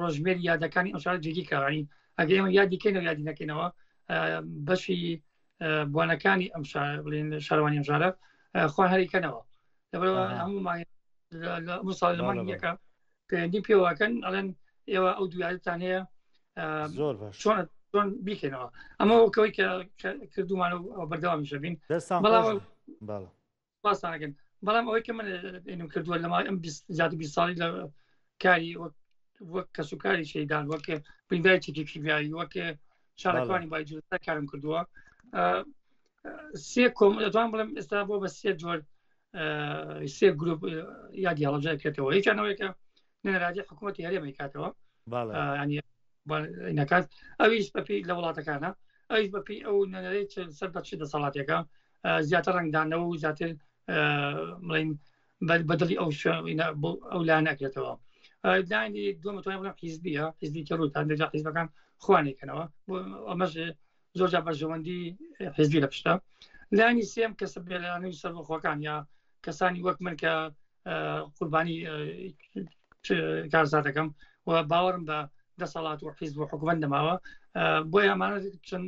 ڕۆژمێر یادەکانی ئەو شار جێگی کارانی ئەگە ئێمە یادیکەینەوە یادی نەکەینەوە بەشی بۆنەکانی ئەم بڵێن شارەوانی ئەم شارە خۆ هەریکەنەوە لەبەرەوە هەموو مانگ لە مساڵ لە مانگ یەکە پەیوەندی پێوەکەن ئەڵێن ئێوە ئەو دوایتان هەیە زۆر چۆن چۆن بیکەنەوە ئەمە وەکەوەی کە کردومان و بەردەوامیشە بین بەڵام پاسانەکەن بەڵام ئەوەی کە من ئێنم کردووە لە ماڵی ئەم زیاد بی ساڵی لە کاری وەک کەس و کاری شەیدان وەک بریندای چێکی کیمیایی وەک شارەکانی بایجوتا کارم کردووە سێ کۆم دەتوان بڵم ئێستا بۆ بە سێ جۆر سێ گروپ یا دیاڵەجای کرێتەوە یەکیانەوەیکە نەراجی حکوومەتی هەرێمەی کاتەوە نەکات ئەویش بەپی لە وڵاتەکانە ئەویش بەپی ئەو نەرەی سەر بەچی دەسەڵاتەکە زیاتر ڕنگدانەوە و زیاتر بڵین بەدڵی ئەو ئەو لا ناکرێتەوە لانی دومەتوانین بڵم حیزبیە حزبی کە ڕووتان دەجا حیزبەکان خوانێکەنەوە بۆ ئەمەش زۆر جا بەرژەوەندی حزبی لە پشتە لانی سێم کە سەبێلانی و سەربەخۆکان یا کەسانی وەک من کە قوربانی کارزاتەکەم و باوەڕم بە دەسەڵات و حیزب و حکومت نەماوە بۆ ئەمانە چەند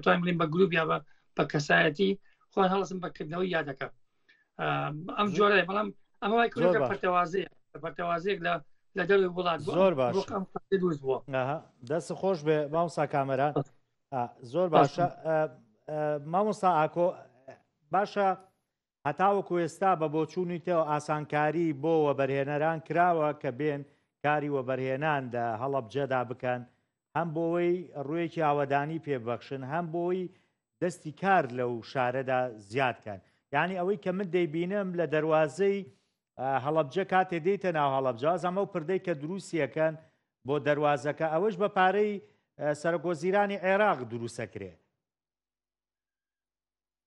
توانین بڵین بە گروپ یا بە بە کەسایەتی خۆن هەڵسم بەکردنەوەی یادەکە ئەم جۆرە بەڵام ئەمە وای کرۆکە پەرتەوازەیە پەرتەوازەیەک لە لە دەروی وڵات زۆر باش دروست بووە دەست خۆش بێ مامسا کامەران زۆر باشە مامۆستا ئاکۆ باشە هەتاوەکو ئێستا بە بۆچوونی تۆ ئاسانکاری بۆ وەبەرهێنەران کراوە کە بێن کاری وەبەرهێنان لە هەڵەبجەدا بکەن هەم بۆوەی ڕوێکی ئاوەدانی پێ ببەخشن هەم بۆی دەستی کار لەو شارەدا زیاد کەن یعنی ئەوەی کە من دەیبینم لە دەواازەی هەڵەبجە کاتێ دێتە ناو هەڵەبجاز ئەمە و پردەی کە دروستیەکەن بۆ دەواازەکە ئەوەش بە پارەی سەرۆکۆزیرانی عێراق دروستەکرێ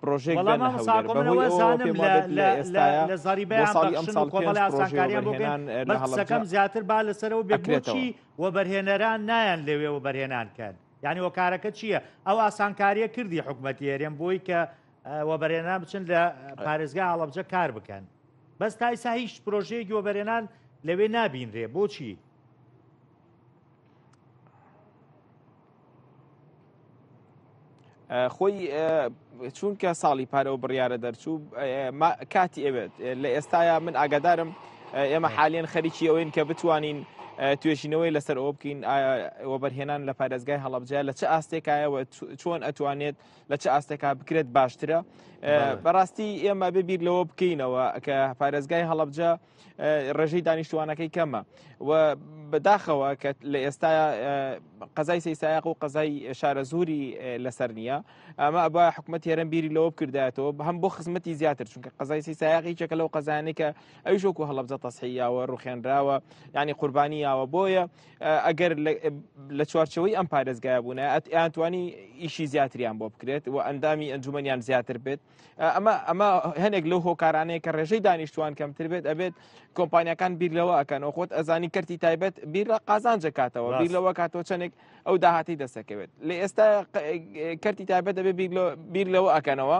پرۆژێکڵام لە زاری بەکەم زیاتر با لەسەر و بێکرێتەوە و بەرهێنەران نایەن لەوێ و بەرهێنان کەن یعنی وەکارەکە چییە ئەو ئاسانکاریە کردی حکوومەتی هەرێم بۆی کە وەبەرێنان بچن لە پارێزگا هەڵەبجە کار بکەن بەس تایسا هیچ پرۆژەیەکی وەبەرێنان لەوێ نابینرێ بۆچی خۆی چونکە ساڵی پارەوە بڕیاە دەرچوو کاتی ئەوێت لە ئێستایا من ئاگادارم ئێمە حالیان خەریکی ئەوەین کە بتوانین توێژینەوەی لەسەر ئەوە بکەین وەبەرهێنان لە پارێزگای هەڵبجە لە چ ئاستێکایەوە چۆن ئەتوانێت لە چ ئاستێکا بکرێت باشترە بەڕاستی ئێمە ببیر لەوە بکەینەوە کە پارێزگای هەڵبجە ڕێژەی دانیشتوانەکەی کەمە و بەداخەوە کە لە ئێستا قەزای سیسایق و قەزای شارە زوری لەسەر نییە ئەمە ئەبا حکوومەت هێرم بیری لەوە بکردایەتەوە هەم بۆ خزمەتی زیاتر چونکە قەزای سیسایقی چەکە لەو قەزانێکە ئەو شۆکو هەڵبجە تەسحیاوە ڕوخێنراوە ینی قوربانییاوە بۆیە ئەگەر لە چوارچەوەی ئەم پارێزگای بوونە ئەتیانتوانی ئیشی زیاتریان بۆ بکرێت و ئەندامی ئەنجومەنیان زیاتر بێت ئەمە ئەمە هەنێک لەو هۆکارانەیە کە ڕێژەی دانیشتوان کەمتر بێت ئەبێت کۆمپانیەکان بیرلەوە ئەکەن و خۆت ئەزانی کردی تایبەت بیر لە قازانجە کاتەوە بیر لەوە کاتەوە چەندێک ئەو داهاتی دەسەکەوێت لە ئێستا کەرتی تایبەت دەبێت بیر لەوە ئەکەنەوە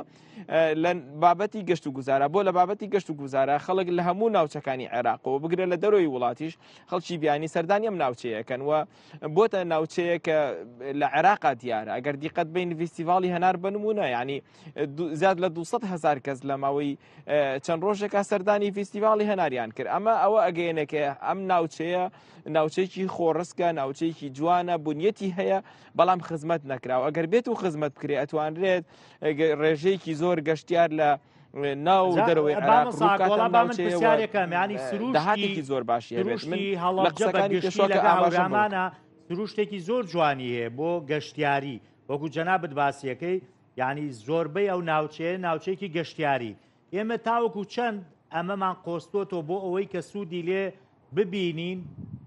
لە بابەتی گەشت و گوزارە بۆ لە بابەتی گەشت و گوزارە خەڵک لە هەموو ناوچەکانی عێراقەوە بگرە لە دەرەوەی وڵاتیش خەڵکی بیانی سەردانی ئەم ناوچەیەکەن و بۆتە ناوچەیە کە لە عێراقا دیارە ئەگەر دیقەت بین فیستیڤاڵی هەنار بنمونە ینی زیاد لە 200 هزار کەس لە ماوەی چەند ڕۆژێکا سەردانی فیستیڤاڵی هەناریان کرد ئەمە ئەوە ئەگەیەنەکە ئەم ناوچەیە ناوچێکی خۆڕسکە ناوچێکی جوانە بنیەتی هەیە بەڵام خزمەت نەکراوە ئەگەر بێت و خزمەت بکرێ ئەتوانرێت ڕێژەیەکی زۆر گەشتیار لە ناو دەرەوەی عراقەکەمیانی سروشتێکی زۆر باشی هەڵەکانی شۆکە ئاماژەمانە سروشتێکی زۆر جوانی هەیە بۆ گەشتیاری وەکو جەنابت باسیەکەی یعنی زۆربەی ئەو ناوچەیە ناوچەیەکی گەشتیاری ئێمە تاوەکو چەند ئەمەمان قۆستۆتەوە بۆ ئەوەی کە سوودی لێ ببینین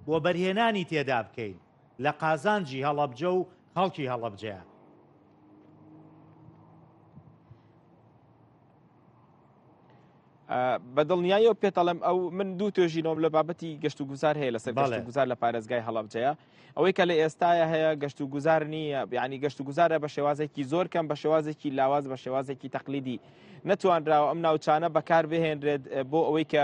و بەرهێنانی تێدا بکەین لە قازانجی هەڵەبجە و خەڵکی هەڵەبجەیە بە دڵنیایەوە پێتەڵم ئەو من دوو توێژینەوەم لە بابەتی گەشت و گوزار هەیە لەسەر گەشت و گوزار لە پارێزگای هەڵبجەیە ئەوەی کە لە ئێستاە هەیە گەشت و گوزار نییە بیانی گەشت و گوزارە بە شێوازێکی زۆر کەم بە شێوازێکی لاواز بە شێوازێکی تەقلیدی نەتوانراوە ئەم ناوچانە بەکار بهێنرێت بۆ ئەوەی کە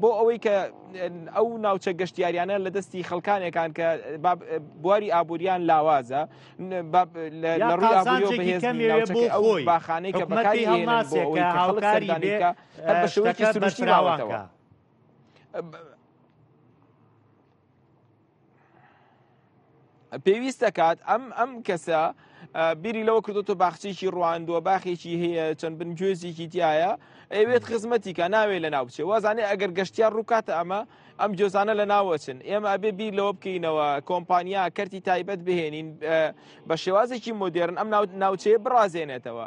بۆ ئەوەی کە ئەو ناوچە گەشتیاریانە لە دەستی خەڵکانێکان کە بواری ئابووریان لاوازە باخانەی کە بەکاری هەڵناسێکە هاوکاری بێکە هەر بە شوەکی سروشتی باوەتەوە. پێویست دەکات ئەم ئەم کەسە بیری لەوە کردوتە باخچێکی ڕواندووە باخێکی هەیە چەند بن گوێزێکی تایە ئەوێت خزمەتیکە ناوێ لە ناو بچێ وازانێ ئەگەر گەشتیار ڕووکاتە ئەمە ئەم جۆزانە لە ناوەچن ئێمە ئەبێ بیر لەوە بکەینەوە کۆمپانیا کەرتی تایبەت بهێنین بە شێوازێکی مدێرن ئەم ناوچەیە بڕازێنێتەوە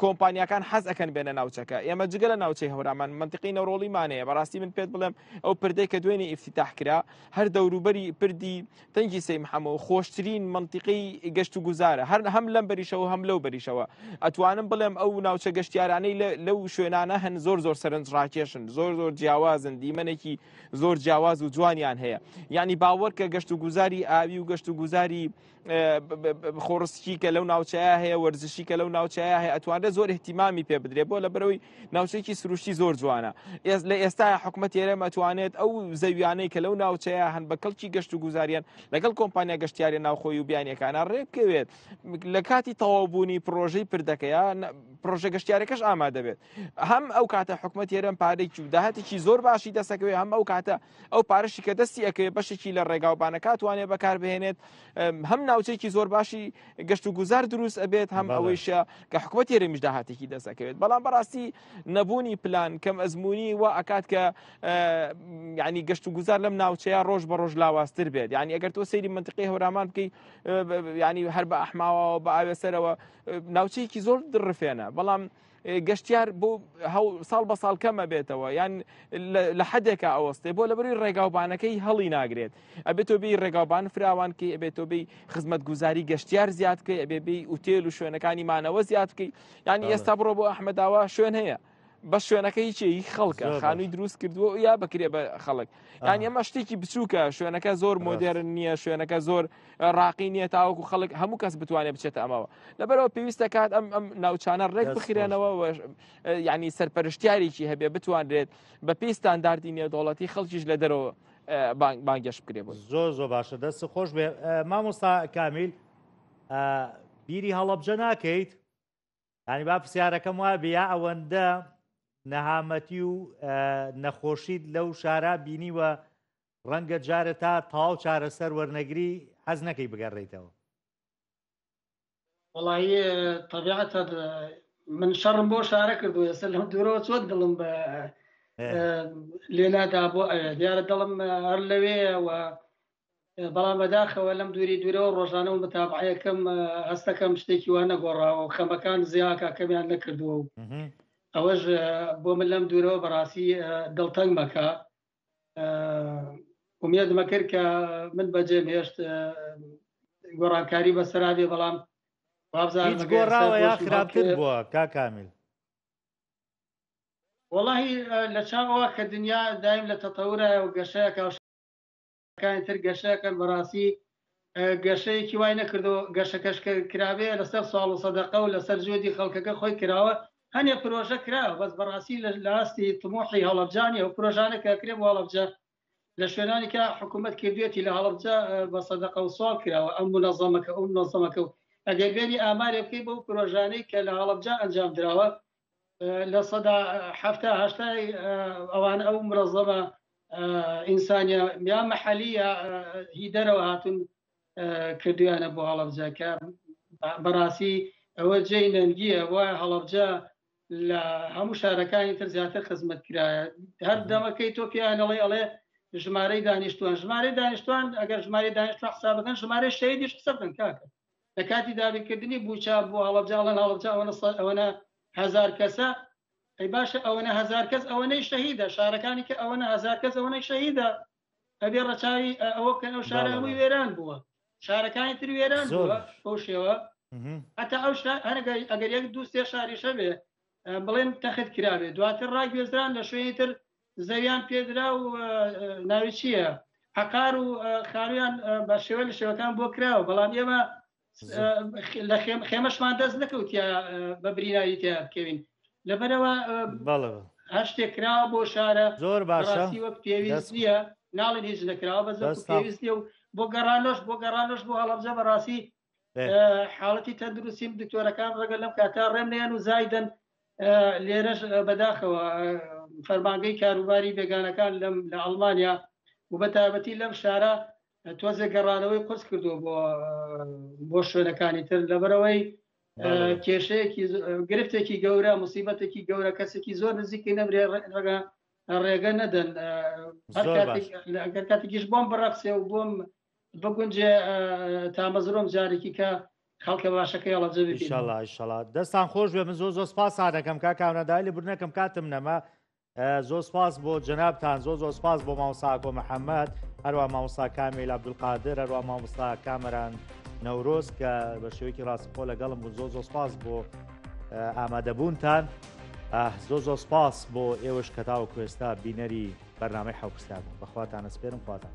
کۆمپانیاکان حەز ئەەکەن بێنە ناوچەکە ئێمە جگە لە ناوچەی هەورامان منتیقی نەڕۆڵیمانەیە بەڕاستی من پێت بڵێم ئەو پردەی کە دوێنی ئیفتتاح کرا هەر دەوروبەری پردی تەنگی سەی محەمە و خۆشترین منتیقی گەشت و گوزارە هەر هەم لەم بەریشەوە هەم لەو بەریشەوە ئەتوانم بڵێم ئەو ناوچە گەشتیارانەی لەو شوێنانە هەن زۆر زۆر سەرنج ڕاکێشن زۆر زۆر جیاوازن دیمەنێکی زۆر جیاواز و جوانیان هەیە یعنی باوەڕکە گەشت و گوزاری ئاوی و گەشت و گوزاری خۆڕسکی کە لەو ناوچەیە هەیە وەرزشی کە لەو ناوچەیە هەیە ئەتوانێت زۆر احتیمامی پێ بدرێ بۆ لە بەرەوەی ناوچێکی سروشتی زۆر جوانە ئێز لە ئێستا حکومە تێرەم ئەتوانێت ئەو زەویانەی کە لەو ناوچەیە هەن بە کەڵکی گەشت و گوزاریان لەگەڵ کۆمپانیا گەشتیاری ناوخۆی و بیانەکانە ڕێبکەوێت لە کاتی تەواوبوونی پرۆژەی پردەکەیە پرۆژە گەشتارەکەش ئامادەبێت هەم ئەو کاتە حکومە تێرەم پارێکی و داهاتێکی زۆر باشی دەسەکەوێت هەم ئەو کاتە ئەو پارەشی کە دەستی ئەکەوێت بەشێکی لە ڕێگاو بانەکاتوانێ بەکاربهێنێت هەم ناوچێکی زۆر باشی گەشت و گوزار دروست ئەبێت هەم ئەوەیشە کە حکوومەت هێرەمیش داهاتێکی دەسەکەوێت بەڵام بەڕاستی نەبوونی پلان کەم ئەزمموی و ئەکات کە ینی گەشت و گوزار لەم ناوچەیە ڕۆژ بە ڕۆژ لاوااستر بێت ینی ئەگەر تۆ سەیری منتقی هەورامان بکەی ینی هەر بە ئەحماوە بە ئاوێسەرەوە ناوچەیەکی زۆر دڕفێنە بەڵام گەشتیار بۆ ساڵ بە ساڵ کەمە بێتەوە یان لە حدێکە ئەوەستێ بۆ لەبری ڕێگاوبانەکەی هەڵی ناگرێت ئەبێت تۆبی ڕێگاوبان فراوانکەی ئەبێت تۆبی خزمەت گوزاری گەشتیار زیادکەی ئەبێبی ئوتێل و شوێنەکانی مانەوە زیادکەی ینی ئێستا بڕۆ بۆ ئەحمەداوە شوێن هەیە. بە شوێنەکە هیچی خەڵکە خانووی دروست کردووە یا بکرێ بە خەڵک یان ئەمە شتێکی بچووکە شوێنەکە زۆر مۆدێرن نییە شوێنەکە زۆر ڕاقی نییە تاوەکو خەڵک هەموو کەس بتوانێت بچێتە ئەمەوە لەبەرەوە پێویستە کات ئەم ئەم ناوچانە ڕێک بخرێنەوە ینی سەرپەرشتیارێکی هەبێ بتوانرێت بە پێی ستانداردی نێودوڵەتی خەڵکیش لە دەرەوە بانگەش بکرێ بۆ زۆر زۆر باشە دەست خۆش بێ مامۆستا کامیل بیری هەڵەبجە ناکەیت هەنی با پرسیارەکەم وا بیا ئەوەندە نەهامەتی و نەخۆشیت لەو شارە بینیوە ڕەنگە جارە تا تاو چارەسەر وەرنەگری حەز نەکەی بگەڕێیتەوە وڵی تەبیعەت من شەڕم بۆ شارە کردو ئێستا لەم دوورەوە چۆن دڵم بە لێنادا بۆ دیارە دڵم هەر لەوێەوە بەڵام بەداخەوە لەم دووری دوورەوە ڕۆژانە و متابعەکەم هەستەکەم شتێکی وان نەگۆڕاوە و خەمەکان زیاکە کەمیان نەکردووە و ئەوەش بۆ من لەم دوورەوە بەڕاستی دڵتەنگ مەکە ئومێدمە کرد کە من بەجێم هێشت گۆڕانکاری بەسەرابێ بەڵام گۆڕاوە یا خراپتر بووە کاکامیل وڵی لە چاوەوە کە دنیا دایم لە تەتەورایە و گەشەیە کاوش کانی تر گەشەکەن بەڕاستی گەشەیەکی وای نەکردەوە گەشەکەش کرابێ لەسەر ساڵ و سەدەقە و لەسەر جۆدی خەڵکەکە خۆی کراوە هەنێ پرۆژە کراوە بەس بەڕاستی لە لاستی تمۆحی هەڵبجانی ئەو پرۆژانە کە کرێ وڵبجە لە شوێنانی کە حکوومەت کردوێتی لە هەڵبجە بە سەدەقە و سوال کراوە ئەم منەزەمەکە ئەو منەزەمەکە و ئەگەر بێنی ئامارێ بکەی بەو پرۆژانەی کە لە هەڵبجە ئەنجام دراوە لە سەدا هەفتا هەشتای ئەوان ئەو مرەزەمە ئینسانە یا محەلیە هی دەرەوە هاتون کردویانە بۆ هەڵبجەکە بەڕاستی ئەوە جێی نەنگیە وە هەڵبجە لە هەموو شارەکانی تر زیاتر خزمەت کرایە هەر دەمەکەی تۆ پیانەڵی ئەڵێ ژمارەی دانیشتوان ژمارەی دانیشتوان ئەگەر ژماری دانیشتوان حسابەکەن ژمارە شەیدیش قسە بن کاکە لە کاتی دابینکردنی بوچە بۆ هەڵەبجە ئەڵێن هەڵەبجە ئەوەنە ئەوەنە هزار کەسە ئەی باشە ئەوەنە هزار کەس ئەوەنەی شەهیدە شارەکانی کە ئەوەنە هزار کەس ئەوەنەی شەهیدە ئەبێ ڕەچاوی ئەوە بکەن ئەو شارەمووی وێران بووە شارەکانی تر وێران بووە بەو شێوە هەتا ئەو هەرگەر ئەگەر یەک دوو سێ شاریشە بێ بڵێن تەخت کراوێ دواتر ڕاگوێزران لە شوێنی تر زەویان پێدرا و ناوی چییە عقار و خانویان بە شێوە لە شێوەکان بۆ کراوە بەڵام ئێمە لە خێمەشمان دەست نەکەوتە بە بریناوی تیا بکەوین لەبەرەوە هەر شتێک کراوە بۆ شارە زۆر باشی وەک پێویست نیە ناڵێن هیچ نەکراوە بە زۆر پێویست نیە و بۆ گەڕانۆش بۆ گەڕانۆش بۆ هەڵەبزە بەڕاستی حاڵەتی تەندروستیم دکتۆرەکان ڕەگە لەم کاتا ڕێم نیان و زایدن لێرەش بەداخەوە فەرمانگەی کاروباری بێگانەکان لەم لە ئەڵمانیا و بە تابەتی لەم شارە تۆزێک گەڕانەوەی قرس کردو بۆ بۆ شوێنەکانی تر لەبەرەوەی کێشەیەکی گرفتێکی گەورە مصیبەتێکی گەورە کەسێکی زۆر نزیکی نەبرێ ڕێگە ڕێگە نەدەن کاتێکیش بۆم بڕەخسێ و بۆم بگونجێ تامەزرۆم جارێکی کە خەڵکە باشەکەی هەڵە جەشڵات دەستان خۆش بێ من زۆ زۆ سپاس سادەکەم کا کاونەدای لە برنەکەم کاتم نەما زۆ سپاس بۆ جەنابان زۆ زۆ سپاس بۆ ماوساکۆ محەممەد هەروە ماوسا کامیل عبدولقادر هەروە مامستا کامەران نەورۆز کە بە شێوەیەکی ڕاستخۆ لەگەڵم بوو زۆ زۆ سپاس بۆ ئامادەبوونتان زۆ زۆ سپاس بۆ ئێوەش کەتاو کوێستا بینەری بەرنامەی حەو پرسیار بوو بەخواتان ئەسپێرم خواتان.